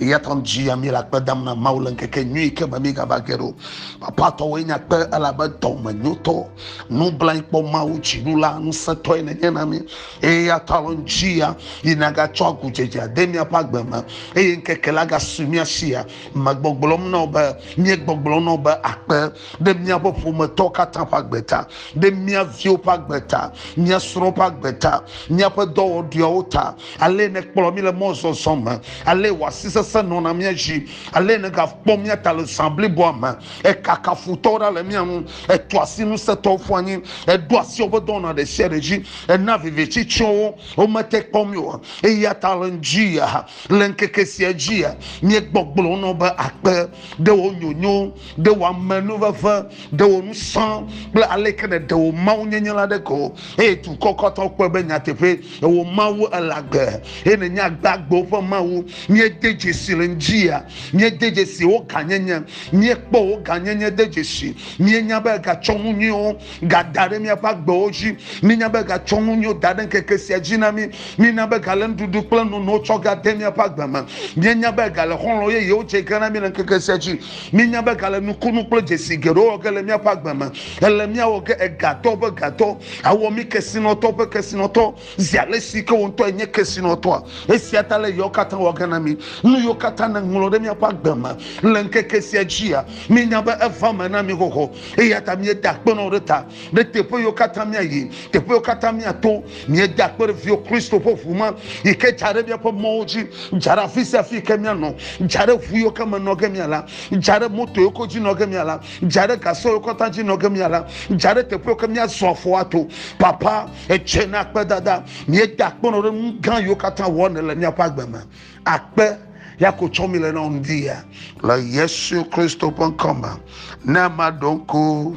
Eya ta dzi ya míele akpe dam na Mawu le ŋkeke nyui yi ke me mígava ge ɖo. Papa tɔwoe nye akpe elabe dɔme nyotɔ, nublanyi kpɔ Mawu dziɖula ŋusẽtɔe nenye na mí. Eya ta lɔ dzi ya yi nagatsɔ agudzedze ade míaƒe agbe me eye ŋkeke la gasu mía si ya megbɔgblɔm na wò be, míegbɔgblɔm na wò be akpe. ɖe míaƒe ƒometɔ katã ƒe agbe ta, ɖe mía viwo ƒe agbe ta, mía srɔ̃wo ƒe agbe ta, míaƒe dɔwɔɖuiawo ta, ale nèkplɔ mí le mɔzɔzɔ me, ale wò asi sesẽ nɔna mía dzi, ale nègakpɔ mía ta le zã bliboa me. Èkaka futɔwo ɖa le mía ŋu, ètua asi ŋusẽtɔwo ƒu anyi, èɖo asi woƒe dɔwɔna ɖe sia ɖe dzi, èna viviti tsyɔ wo, womete kpɔ mí o. Eya ta le ŋudzia, le ŋkeke sia dzia, míegbɔgblɔnɔ be, Akpe ɖe wò nyonyo Ɖe wò amenuveve, ɖe wò ŋusẽ kple aleke nèɖe wò mawunyenye la ɖe ko, eye dukɔ katã kpɔe be nyateƒee wò Mawu ele agbe, eye nènye agbe agbewo ƒe Mawu. Míede dzesi le ŋdziwòa? Míede dzesi wò gãnyenye? Míekpɔ wò gãnyenye de dzesi? Míenya be ègatsɔ nu nyuiwo gada ɖe míaƒe agbewo dzi? Míenya be ègatsɔ nu nyuiwo da ɖe ŋkeke sia dzi na mí? Míenya be ègale nuɖuɖu kple nonowo tsɔ gade míaƒe agbe me? Míenya be ègale xɔlɔ̃ yeyewo dze ge na mí le ŋkeke sia dzi? Míenya be gale nukunu kple dzesi geɖewo wɔ ge le míaƒe agbe me. Ele míawɔ ge egatɔ ƒe gatɔ, awɔ mí kesinɔtɔ ƒe kesinɔtɔ, zi alesi ke wò ŋutɔ ènye kesinɔtɔa. Esia ta le yawo katã wɔ ge na mí. Nu yiwo katã nèŋlɔ ɖe míaƒe agbe me le ŋkeke sia dzia, míenya be eva eme na mí xoxo, eyata míeda akpe na wò ɖe eta. ɖe teƒe yiwo katã míayi, teƒe yiwo katã míato. Míeda akpe ɖe viwò Kristo ƒe ʋu me yi ke dza ɖe míaƒe mɔwo dzi, dza ɖe afi sia afi yi ke míanɔ, dza ɖe ʋu yiwo ke me nɔ ge míala, dza ɖe moto yiwo ke dzi nɔ ge míala, dza ɖe gasɔ yiwo katã dzi nɔ ge míala, dza ɖe teƒe yiwo ke míazɔ afɔ ato. Papa, etsɔe na akpedada. Míeda akpe nɔ ɖe nu gã yiwo katã wɔm nèle míaƒe agbe me. Akpe ya ko tsɔm míele na wò ŋdi ya. Le Yesu Kristo ƒe ŋkɔ me, ne maɖo ŋku.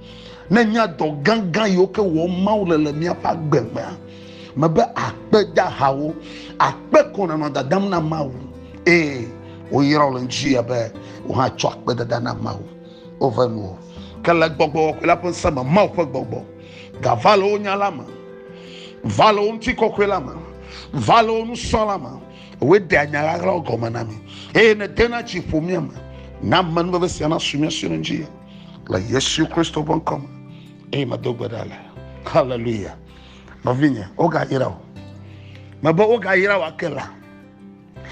Ne nya dɔ gãgã yiwo ke wɔm Mawu le le míaƒe agbe mea, mebe akpe dahawo, akpe ko nanɔ dadam na Mawu. Ee, woyra wo le ŋuti abe wohatsɔ akpe dada na Mawu. Wove nu o. Ke le gbɔgbɔ kɔkɔe la ƒe ŋusẽ me, Mawu ƒe gbɔgbɔ gava le wo nya la me, va le wo ŋuti kɔkɔe la me, va le wo nusɔ la me. Woe ɖea nya ɣaɣlawo gɔme na mi eye ne dena tsi ƒo mía me. Na amenuveve sia nasu mía si ɖe ŋuti. le yesu kristo ƒe ŋkɔ me eye medo gbe ɖa le haleluya nɔvinye wogayra o mebe wogayra wa ke la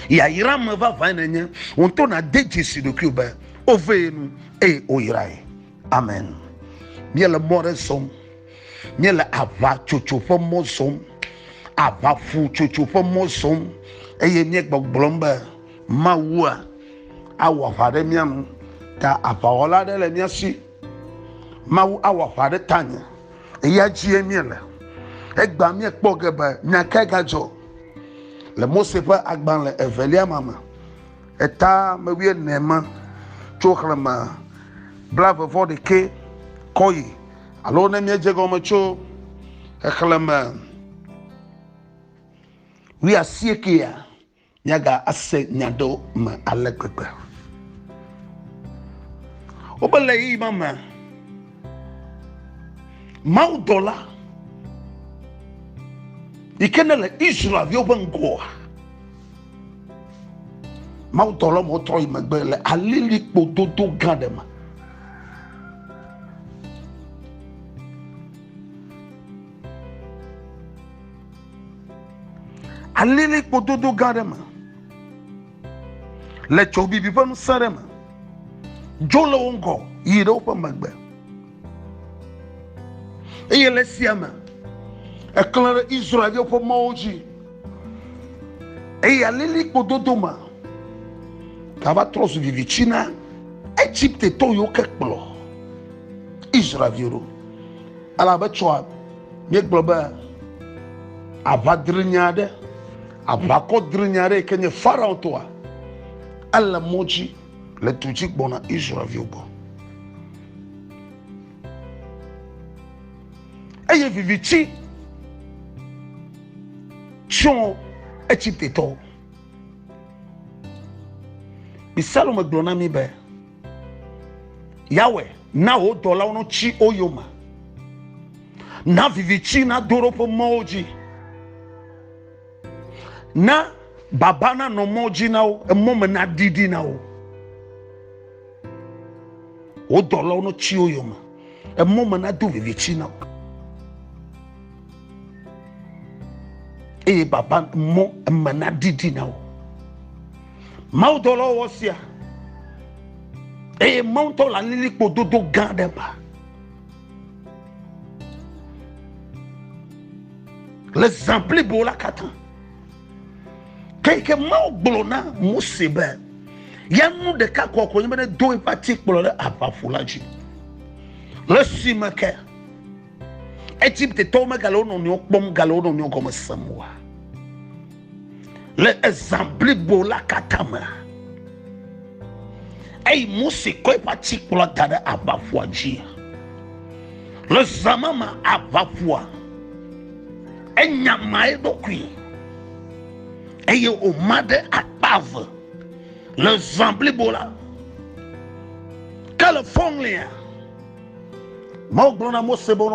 yayra me vavãe nenye wòto nade dzesi ɖokui be wovee nu eye woyrae amen míele mɔ ɖe zɔm míele aʋatsotso ƒe mɔ zɔm aʋaƒutsotso ƒe mɔ zɔm eye míegbɔgblɔm be Mawua awɔ aʋa ɖe mía ŋu, ta aʋawɔla aɖe le mía si. Mawu awɔ aʋa ɖe tanye, eya dzie míele. Egbea míekpɔ ge be nya kae gadzɔ le Mose ƒe agbalẽ evelia ma me, eta me wuiene ma, tso xlẽme blaeve vɔ ɖekɛ kɔ yi, alo ne míedze egɔme tso xexlẽme wuiasiekea. Míaga ase nya ɖewo me ale gbegbe. Wobe le ɣeyiɣi ma me, Mawu dɔla yi ke ne le Israelviwo ƒe ŋgɔa, Mawu dɔla mo trɔ yi megbe le alilikpo dodo gã ɖe me. alilikpo dodo gã ɖe me le tso bibi ƒe ŋusẽ ɖe me dzo le wo ŋgɔ yi ɖe woƒe megbe eye le sia me eklẽ ɖe israelviwo ƒe mɔwo dzi eye alilikpo dodo me gava trɔ zu vivitsi na egipte tɔ yiwo ke kplɔ israelviwo ɖo elabe tsɔa Míegblɔ be aʋa drinye aɖe, aʋakɔ drinye aɖe yi ke nye Farao tɔa, ele mɔ dzi le du dzi gbɔna Israelviwo gbɔ. Eye viviti tsyɔ Egiptetɔwo. Psalome gblɔ na mí be, Yawe, na wò dɔlawo notsi wo yome, na vivitsi nado ɖe woƒe mɔwo dzi, na baba nanɔ mɔ dzi na wo, emɔ me naɖiɖi na wo. Wò dɔlawo notsi wo yome, emɔ me nado vivitsi na wo. Eye baba mɔ eme naɖiɖi na wo. mawudɔlɔwɔ sia eye mawutɔ le alilikpo dodo gã ɖe ba le zã blibo la katã keke mawu gblɔ na mose be ya nu ɖeka kɔkɔe be ne do eƒe atikplɔ ɖe aʋaƒo la dzi le si me ke egiptetɔwo megale wo nɔnɔewo kpɔm gale wo nɔnɔewo gɔme sem oa le ezã blibo la katã me eyi mose kɔ eƒe atikplɔ da ɖe aʋaƒua dzi le zã ma me aʋaƒua enya ma eɖokui eye wòma ɖe akpa eve le zã blibo la ke le fɔŋlia mawu gblɔ na mose be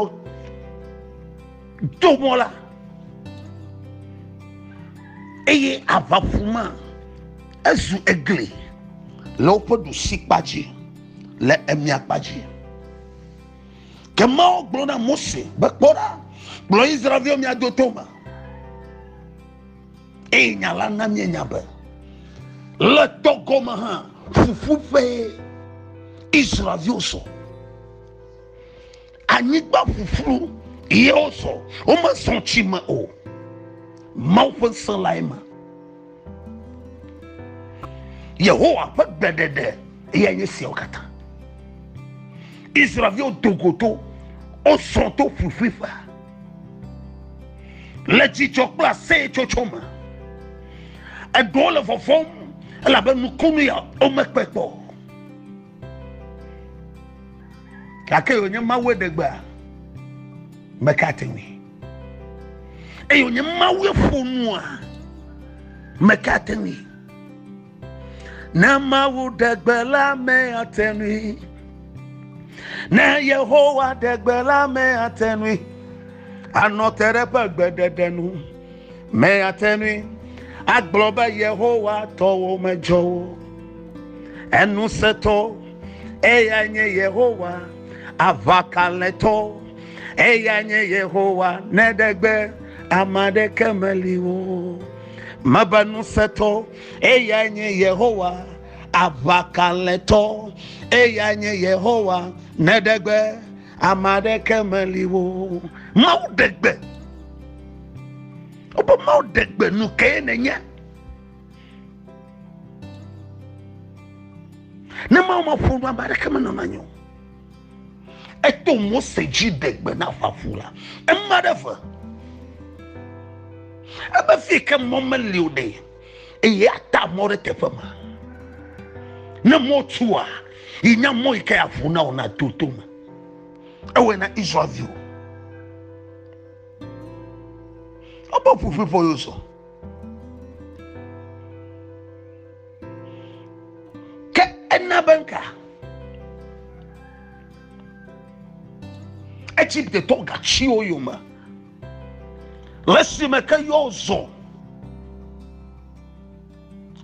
do mɔ la eye aʋaƒu ma ezu egli le woƒe ɖusi kpa dzi le emia kpa dzi ke mawo gblɔ na mose be kpɔ ɖa kplɔ israelviwo mia do tome eye nya la na mienya be le tɔ gɔme hã fufu ƒe israelviwo sɔ anyigba ƒuƒlu ye wozɔ womezɔ tsi me o mawu ƒe se lae me yehowa ƒe gbeɖeɖe eya nye siawo katã israelviwo dogoto wozɔ to ƒuƒuiƒe le dzidzɔ kple aseyetsotso me eɖewo le vɔvɔm elabe nukunu ya womekpe kpɔ gake yonye mawue ɖe gbea meka ate ŋui eye wonye mawue ƒo nua meka ate ŋui ne mawu ɖe gbe la me ate ŋui ne yehowa ɖe gbe la me ate ŋui anɔ te ɖe eƒe gbeɖeɖe nu. Mèate ŋui agblɔ be Yehowa tɔwo medzɔ o. Eŋusẽtɔ, eyae nye Yehowa. Aʋakalẽtɔ, eyae nye Yehowa. Ne ɖe gbe ame aɖeke meli o. Mebe ŋusẽtɔ, eyae nye Yehowa. Aʋakalẽtɔ, eyae nye Yehowa. Ne ɖe gbe. ame aɖeke meli wo mawu ɖe gbe wobe mawu ɖe gbe nu kee nenye ne mawu maƒo nu ame aɖeke menɔna nyo eto mose dzi ɖe gbe na ƒaƒu la ema ɖe ve ebe fi ke mɔ meli o ɖee eye ata mɔ ɖe teƒe ma ne mɔ tua yi nya mɔ yi ke avu na wò na to to me ewɔe na israelviwo ɔbɔ ƒuƒui ƒɔ yóò sɔ ke ena be nka egiptetɔ gatsiwo yome Le si me ke yɔ zɔ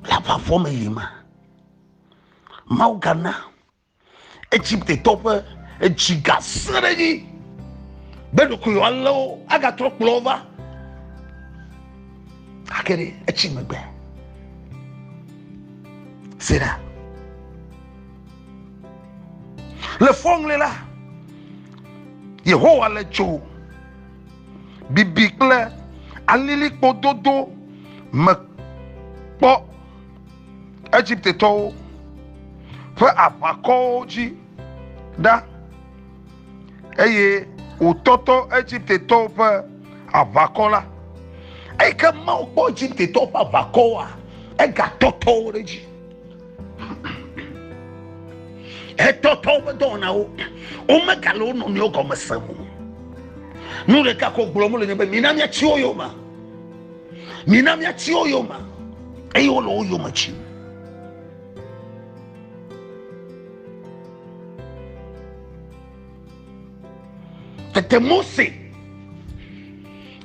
le aʋafɔ me yi ma, Mawu gana Egiptetɔ ƒe edzi gasẽ ɖe edzi be ɖokuiwo alé wo agatrɔ kplɔ wo va. Gake ɖe etsi megbe. Sera. Le fɔŋli la, Yehowa le tso bibi kple alilikpo dodo me kpɔ Egiptetɔwo ƒe aʋakɔwo dzi ɖa eye wòtɔtɔ Egiptetɔwo ƒe aʋakɔ la. Eyi ke Mawu kpɔ Egiptetɔwo ƒe aʋakɔwoa, egatɔtɔ wo ɖe edzi. etɔtɔ woƒe dɔwɔnawo womegale wo nɔnɔewo gɔme sem o nu ɖeka ko gblɔm le nye be mina miatsi wo yome mina miatsi wo yome eye wole wo yome tsi Tete Mose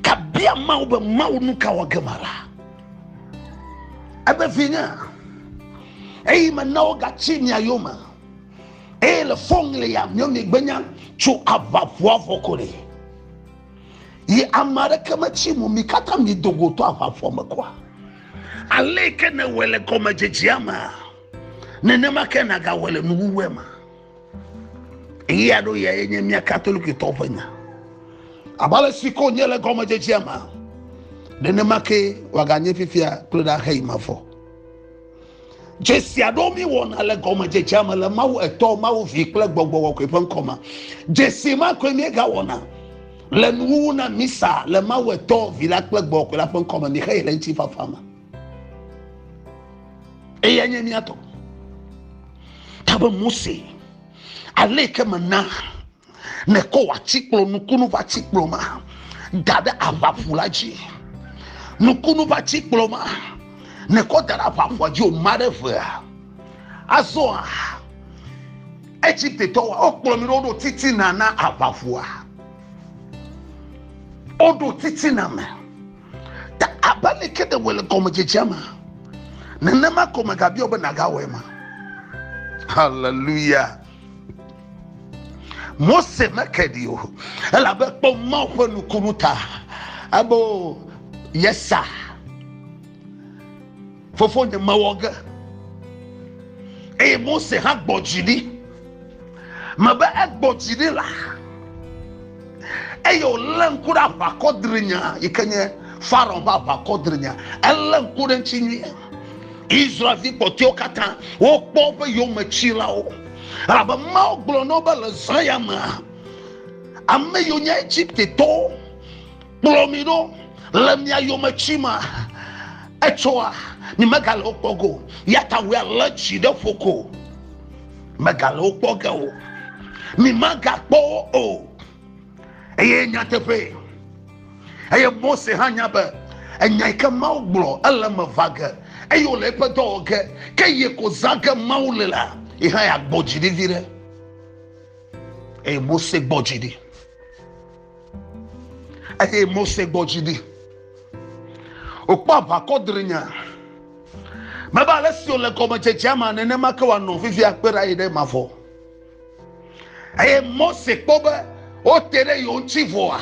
kabia Mawu be Mawu nu ka wɔ ge ma la. Ebe vinye, eyi mena wogatsi mia yome eye le fɔŋli ya mio migbenya tso aʋaʋua vɔ ko ɖe. Yi ame aɖeke metsi mo mi katã mi do go to aʋaʋua me koa. Ale ke nèwɔe le gɔmedzedzea mea, nenema ke nàgawɔe le nuwuwua me. Ɣeya ɖo ya enye mía Katolikitɔwo ƒe nya. Abe ale si ko nye le gɔmedzedzea me, nenema ke wòaganye fifia kple ɖaxeyi me vɔ. Dzesia ɖo mi wɔna le gɔmedzedzea me le Mawu Etɔ, Mawu Vi kple Gbɔgbɔ Kɔkɔe ƒe ŋkɔ me. Dzesi ma koe míegawɔna le nuwuwu na misa le Mawu Etɔ, Vi la kple Gbɔgbɔ Kɔkɔe la ƒe ŋkɔ me. Míexeyi le ŋutifafa me. eya nye mía tɔ tabe mose ale ke mena nekɔ atikplɔ nukunu ƒe atikplɔ ma da ɖe aʋaƒu la dzi nukunu ƒe atikplɔ ma nekɔ da ɖe aʋaƒua dzi o ma ɖe vea azɔa egiptetɔ wa wokplɔ mi ɖe woɖo titina na aʋaƒua woɖo titina me Ta abe aleke ɖewɔe le gɔmedzedzea me, nenema ko megabiɔ be nàgawɔe ma. Haleluya! Mose meke ɖi o, elabe kpɔ Mawu ƒe nukunu ta, ebo yesa. Fofonye mewɔ ge, eye Mose hã gbɔ dzi ɖi. Mebe egbɔ dzi ɖi la, eye wòlé ŋku ɖe aʋakɔdrinya yi ke nye Farao ƒe aʋakɔdrinya. Elé ŋku ɖe ŋuti nyuie. Israelvi kpɔtɔewo katã wokpɔ woƒe yometsilawo, elabe Mawu gblɔ na wo be le zã ya mea, ame yiwo nye Egiptetɔwo kplɔ mi ɖo le mia yome tsi ma etsɔa mi megale wokpɔ go yata wòe alé tsi ɖe ƒo ko megale wokpɔ ge o mi megakpɔ wo o eye nyateƒe eye mose hã nya be enya yi ke mawo gblɔ ele me va ge eye wòle eƒe dɔ wɔ ge ke yi ko zã ge mawo le la yi hã yeagbɔ dzi ɖi vi ɖe eye mose gbɔ dzi ɖi eye mose gbɔ dzi ɖi wòkpɔ aʋakɔ drinya mebe ale si wòle gɔmedzedzea ma nenema ke wòanɔ vivia kpe ɖa yi ɖe mavɔ eye mose kpɔ be wote ɖe yewo ŋuti vɔa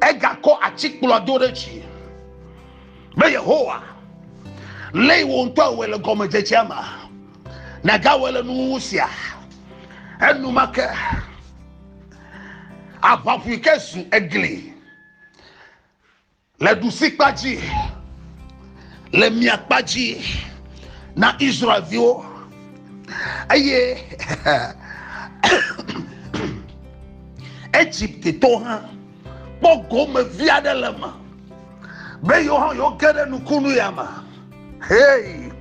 egakɔ atikplɔa do ɖe dzi be yehowa lé wò ŋutɔ awɔe le gɔmedzedzea ma nagawɔe le nuwuwu sia enumake aʋaʋui ke zu egli le ɖusikpa dzi le miakpa dzi na israelviwo eye egypte to hã kpɔ gome vi aɖe le me be yewo hã yewo ge ɖe nukunu ya me hei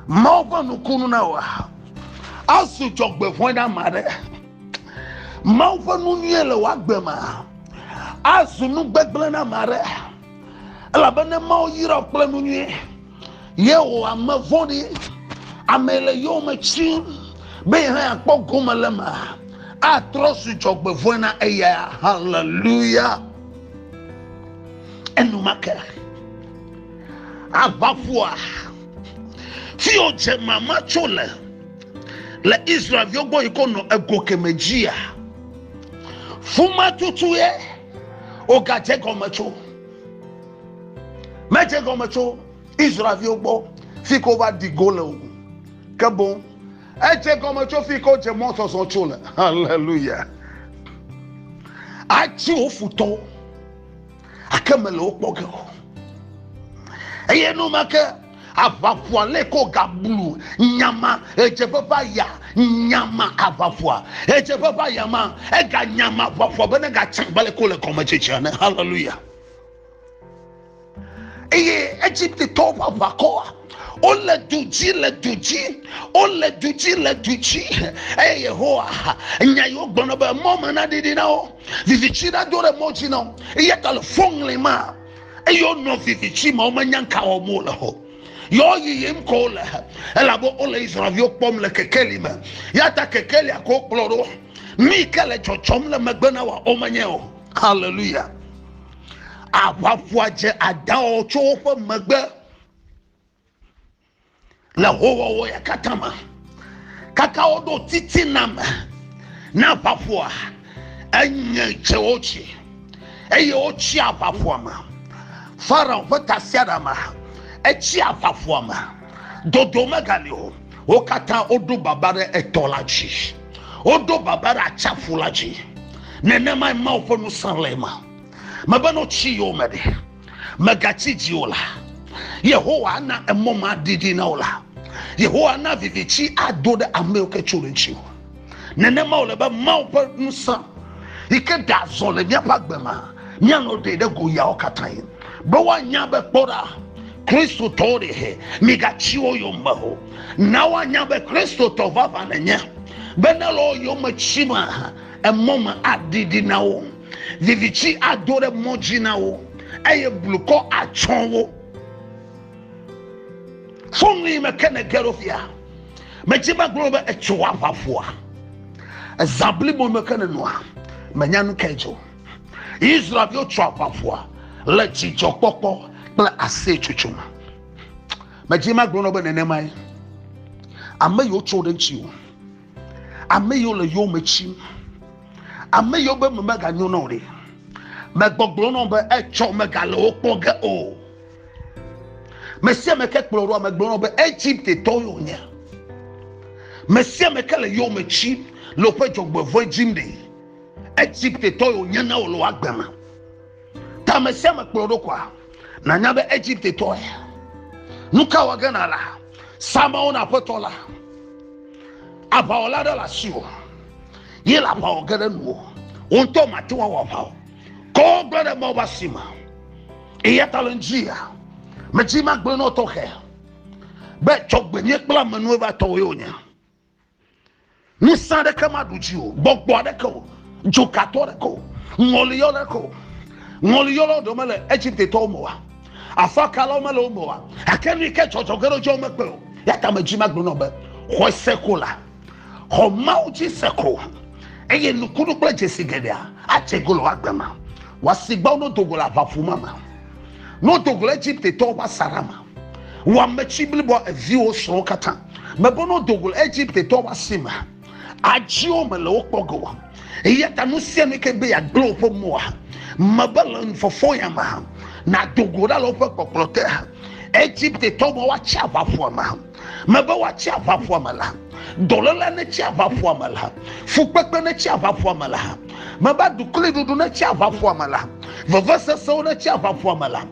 mawo ƒe nukunu na wa azu dzɔgbevɔe na ma ɖe Mawu ƒe nu nyuie le wò agbe me azu nu gbegblẽ na ame aɖe, elabe ne Mawu yra wò kple nu nyuie, ye wò ame vɔ̃ɖi, ame le yowòme tsim be yehã yeakpɔ gome le eme, atrɔ zu dzɔgbevɔ̃e na eya. Haleluya! Enumake aʋaƒoa, fi wòdze mama tso le. le Israelviwo gbɔ yi ko nɔ ego keme dzia, fuma tutu ye wogadze gɔme tso. Medze gɔme tso Israelviwo gbɔ fi ko va di go le o. Ke boŋ edze gɔme tso fi ko dze mɔ zɔzɔ tso le. Haleluya. Atsi wo futɔwo. ake mele wo kpɔ ge o eye enumake aʋaƒua lɛ ko gablu nyama edzeƒe ƒe aya nyama aʋaƒua edzeƒe ƒe aya ma ega nyama aʋaƒua bene gatsã gbale ko le kɔme tsitsi ane hallelujah eye egypte tɔwo ƒe aʋakɔa wole du dzi le du dzi wole du dzi le du dzi eye yehowa nya yi wogblɔna be mɔ me naɖiɖi na wo vivitsi ɖa do ɖe mɔ dzi na wo eya ta le fɔ ŋlɛ ma eye wonɔ vivitsi ma womenya ŋka wɔm wole o yɔ yiyim ko wole elabe wole israelviwo kpɔm le kekeli me ya ta kekelia ko kplɔ ɖo nu yi ke le dzɔdzɔm le megbe na wa womenye o haleluya aʋaƒua dze adawɔ tso woƒe megbe le howɔwɔ ya katã me kaka woɖo titina me na aʋaƒoa enye dze wo dzi eye wotsi aʋaƒoa me farao ƒe tasiaɖama etsi aʋaƒoa me dodo megali o wo katã woɖo baba ɖe etɔ la dzi woɖo baba ɖe atsaƒu la dzi nenemae mawo ƒe nusẽ le ema mebe no tsi yewo me ɖe Mègatsi dzi o la, Yehowa ana emɔ ma didi na wò la. Yehowa ana viviti ado ɖe amewo ke tso ɖe ŋuti o. Nenema wòle be Mawu ƒe ŋusẽ yi ke ɖe azɔ le míaƒe agbe me míanɔ ɖe ɖe go yawo katã yi be woanya be kpɔ ɖa kristotɔwo ɖe he migatsi wo yome o na woanya be kristotɔ vavã nenye be ne le wo yome tsi me emɔ me adidi na wo Viviti ado ɖe mɔ dzi na wo eye blukɔ atsɔ wo. Fonu yi me ke ne ge ɖo fia. Medzi be gblɔ be etso aʋa ƒoa. Eza blibo me ke ne nɔa. Menya nu kae dzo. Israelviwo tso aʋa ƒoa le dzidzɔkpɔkpɔ kple aseyetsotso me. Medzi be agblɔ be nenemae. Ame yiwo tso ɖe ŋuti o. Ame yiwo le yowòme tsim, ame yiwo be me meganyo na o ɖe, megbɔgblɔ na wo be etsɔ megale wo kpɔ ge o. Mesiame ke kplɔ ɖoa megblɔ na wo be Egipte tɔ yo nye. Mesiame ke le yowòme tsim le woƒe dzɔgbevɔ̃e dzim ɖe, Egipte tɔ yo nye na wò le wò agbe me. Ta me sia me kplɔ ɖokoa, nànya be Egipte tɔe. Nu ka wɔ ge nàla? Sa amewo na aƒetɔ la. Aʋawɔla ɖe le asiwò. Ye le aʋa wɔ ge ɖe nuwò. Wò ŋutɔ màte ŋu awɔ aʋa o. Kɔwò gblẽ ɖe Mawu ƒe asi me. Eya ta le ŋudzia, medzi magblẽ nɔ tɔxɛ be dzɔgbenyui kple amenuwò va tɔwòe wònye. Ŋusẽ aɖeke maɖu dzi o, gbɔgbɔ aɖeke o, dzokatɔ aɖeke o, ŋɔliyɔ aɖeke o. Ŋɔliyɔlawo ɖewo mele Egiptetɔwo me oa? Afakalawo mele wo me oa? Gake nu yi ke dzɔdzɔ ge ɖe wo dzi womekpɔe o. Ya ta medzi magblɔ nɔ be, xɔe se ko la, xɔ Mawu dzi se ko, eye nukunu kple dzesi geɖea adze go le wò agbe me. Wòasi gbɔ ne wodo go le aʋaƒu ma me, ne wodo go le Egiptetɔwo ƒe asaɖa me. Wɔame tsi blibɔ eviwo srɔ̃wo katã. Mebe no dogol Egypte tɔ wa si me. Adziwo me le wo kpɔ go. Eya ta nu sia nu ke be ya gblẽ woƒe moa. Mebe le nufɔfɔ ya me. Na dogo ɖa le woƒe kpɔkplɔ te. Egypte tɔ me wa tsi aʋaƒua me. Mebe wa tsi aʋaƒua me la. Dɔlele ne tsi aʋaƒua me la. Fukpekpe ne tsi aʋaƒua me la. Mebe dukli ɖuɖu ne tsi aʋaƒua me la. Veve sesewo ne tsi aʋaƒua me la.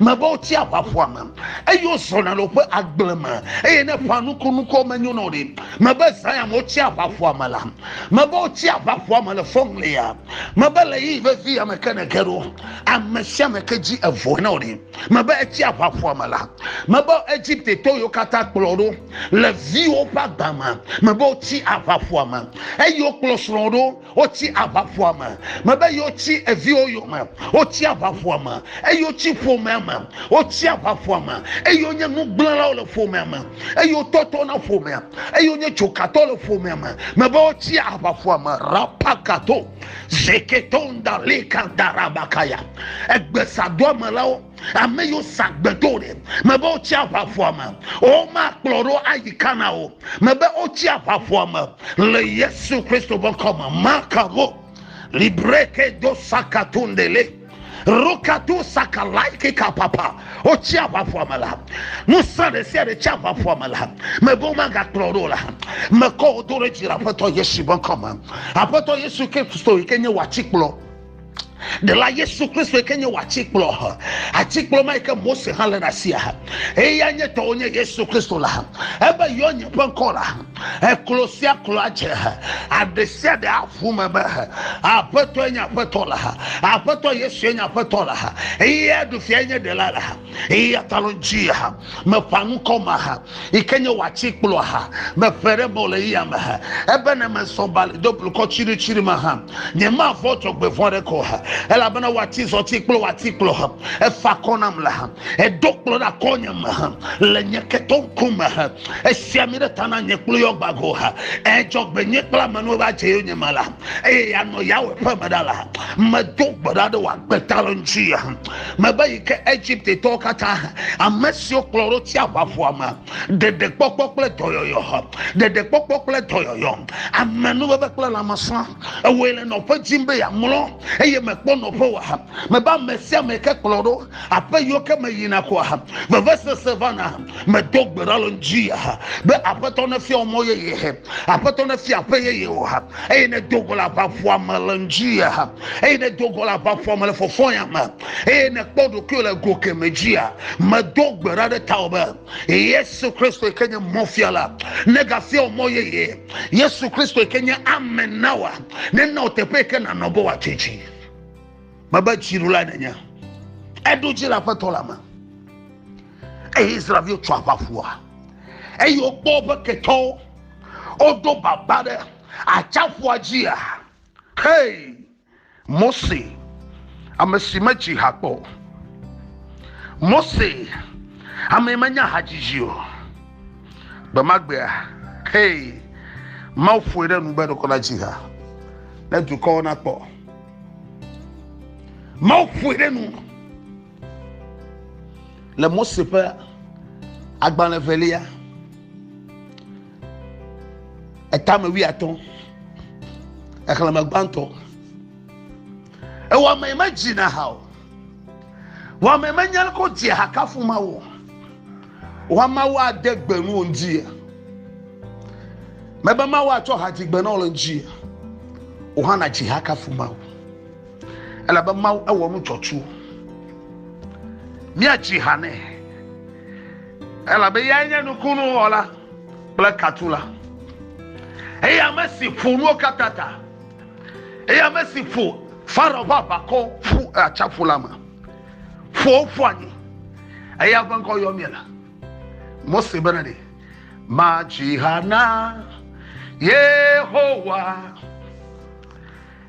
mebe wotsi aʋaƒua me eye wozɔna le woƒe agble me eye ne ƒa nukunukuwo menyo na wo ɖi mebe zaya me wotsi aʋaƒua me la mebe wotsi aʋaƒua me le fɔŋlia mebe le yi vevi ya me ke ne ge ɖo ame sia ame ke dzi evoe na wo ɖi mebe etsi aʋaƒua me la mebe egipte to yiwo katã kplɔ ɖo le viwo ƒe agba me mebe wotsi aʋaƒua me eye wokplɔ srɔ̃ ɖo Wotsi aʋaƒoa me. Mebe yeotsi eviwo yome. Wotsi aʋaƒoa me eye wotsi ƒomea me. Wotsi aʋaƒoa me eye wonye nugblẽlawo le ƒomea me eye wotɔtɔ na ƒomea eye wonye dzokatɔ le ƒomea me. Mebe wotsi aʋaƒoa me. Rapakato zeketonda leka darabakaya. Egbesadoamelawo. Ame yiwo sa gbe do ɖe, mebe wotsi aʋaʋua me, womakplɔ ɖo ayi Kana o, mebe wotsi aʋaʋua me le Yesu Kristo ƒe ŋkɔ me. Makavo libreke do sakatundele rokatu sakalaiki kapapa, wotsi aʋaʋua me la, ŋusẽ ɖe sia ɖe tsi aʋaʋua me la, mebe womagakplɔ ɖo la, mekɔ wo do ɖe dzi le Aƒetɔ Yesu ƒe ŋkɔ me. Aƒetɔ Yesu Kristo yi ke nye wò atikplɔ. ɖela yesu kristo yi ke nye wò atikplɔ ha atikplɔ ma yi ke mose hã le ɖe asia ha eya nye tɔwo nye yesu kristo la ha ebe yɔ nye ƒe ŋkɔ la ha eklo sia klo adze ha aɖe sia ɖe aƒu me be ha aƒetɔ nye aƒetɔ la ha aƒetɔ yesu nye aƒetɔ la ha eya ɖu fia nye ɖela la ha eya ta lɔ dzi ha meƒã ŋkɔ ma ha yi ke nye wòatsi kplɔ ha meƒe ɖe mɔ le eya me ha ebe ne mesɔ ba le do blukɔ tsiritsiri me ha nye ma vɔ dzɔgbevɔ ɖe kɔ ha elabena wòati zɔti kple wòati kplɔ ha efa kɔ nam le ha edo kplɔ ɖe akɔ nye me ha le nye ketɔ ŋku me ha esia mi ɖe ta na nye kple yɔ gbago ha edzɔgbe nye kple amenuwo va dze yo nye me la eye yanɔ yawo ƒe me ɖa la medo gbe ɖa ɖe wòagbe ta le ŋuti ha Meva yi ke Egiptetɔwo katã, ame siwo kplɔ ɖo tsiaƒaƒua me, ɖeɖekpɔkpɔ kple dɔyɔyɔ, ɖeɖekpɔkpɔ kple dɔyɔyɔ, amenuveve kple lãmesã, ewɔe le nɔƒe dim be yeamlɔ, eye mekpɔ nɔƒe o. Mebe ame sia ame ke kplɔ ɖo aƒe yiwo ke meyina ko vevesese vana. Medo gbe ɖa le ŋdi be Aƒetɔ nefia mɔ yeye, Aƒetɔ nefia aƒe yeye wò, eye nedo go le aʋaƒua me le ŋdi. eye ne do go le aʋafɔ me le fɔfɔ ya me eye ne kpɔ ɖokuiwo le go ke me dzia me do gbe ɖa ɖe tawɔ be yesu kristo ke nye mɔfia la ne gafia o mɔ yeye yesu kristo ke nye ame nawa ne na o teƒe ke na nɔbɔ wa tsitsi me be tsiru la nenye eɖo dzi la ƒetɔ la me eye israel tsɔ aʋafua eye wokpɔ woƒe ketɔwo wodo baba ɖe atsafua dzia Hey! Mose, ame si medzi ha kpɔ o. Mose, ame menya hadzidzi o. Gbemagbea, hey! Mawu ƒoe ɖe nu be ɖeko na dzi ha ne dukɔwo nakpɔ. Mawu ƒoe ɖe nu le Mose ƒe agbalẽ velia. etame wuiatɔ exlẽme gbãtɔ ewɔame yi medzina ha o wɔame yi menya leke wodzi ha kafu mawu o wa mawu ade gbe nu wo ŋdzi mebe mawu atsɔ ha dzi gbe na wo le ŋdzi o hã nadzi ha kafu mawu elabe mawu ewɔ nu dzɔtsu míadzi ha nɛ elabe yae nye nukunu wɔla kple katu la eye ame si ƒo nuwo katã ta eye ame si ƒo farao ƒe aʋakɔ ƒu atsaƒu la me ƒo ƒu anyi eya ƒe ŋkɔ yɔ mie la mose bena ɖe madzi ha na yehowa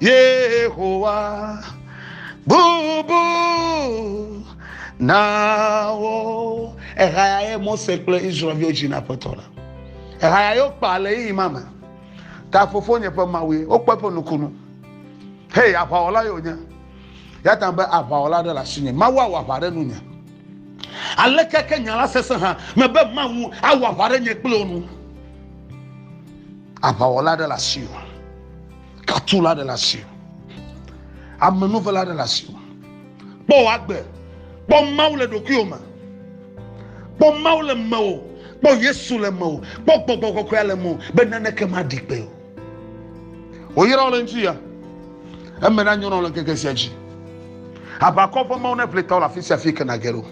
yehowa bubu nawo ehaya ye mose kple israelviwo dzi na aƒetɔ la ehaya yewo kpa le yi ma me ta fofo nye ƒe mawue wokpɔ eƒe nukunu hei aʋawɔla yewo nye ya ta be aʋawɔla ɖe le asinye mawu awɔ aʋa ɖe nunye aleke ke nya la sese hã mebe mawu awɔ aʋa ɖe nye kple wo nu Aʋawɔla aɖe le asiwò. Katula aɖe le asiwò. Amenuvela aɖe le asiwò. Kpɔ wò agbe. Kpɔ Mawu le ɖokuiwò me. Kpɔ Mawu le mewò. Kpɔ Yesu le mewò. Kpɔ gbɔgbɔ kɔkɔea le mewò be naneke maɖi kpe o. Wòyra wò le ŋdi ya. Eme nanyo na wò le ŋkeke sia dzi. Aʋakɔ ƒe Mawu neʋli tawò le afisia afi yi ke nàge ɖo.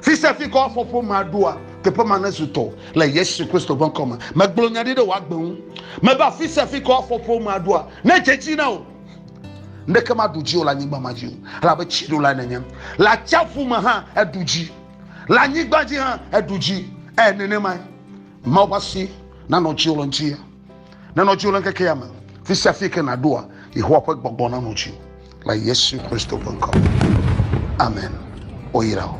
Fi sia fi ke woafɔ ƒomea ɖoa, teƒe ma nezu tɔ le Yesu Kristo ƒe ŋkɔ me. Megblɔ nya ɖi ɖe wò agbe ŋu. Mebe afi sia fi ke woafɔ ƒomea ɖoa, nedze edzi na wò. Ŋɖeke maɖu dzi o le anyigba ma dzi o, elabe tsi ɖo lae nenye. Le atsiaƒu me hã eɖu dzi, le anyigba dzi hã eɖu dzi. Ee, nenemae. Mawu ƒe asi nanɔ dziwò le ŋuti. Nenɔ dziwò le ŋkeke ya me. Fi sia fi ke nàɖoa, Yehowa ƒe gbɔgbɔ nanɔ dziwò le Yesu Kristo ƒe ŋkɔ me. Amen. Woyra wò.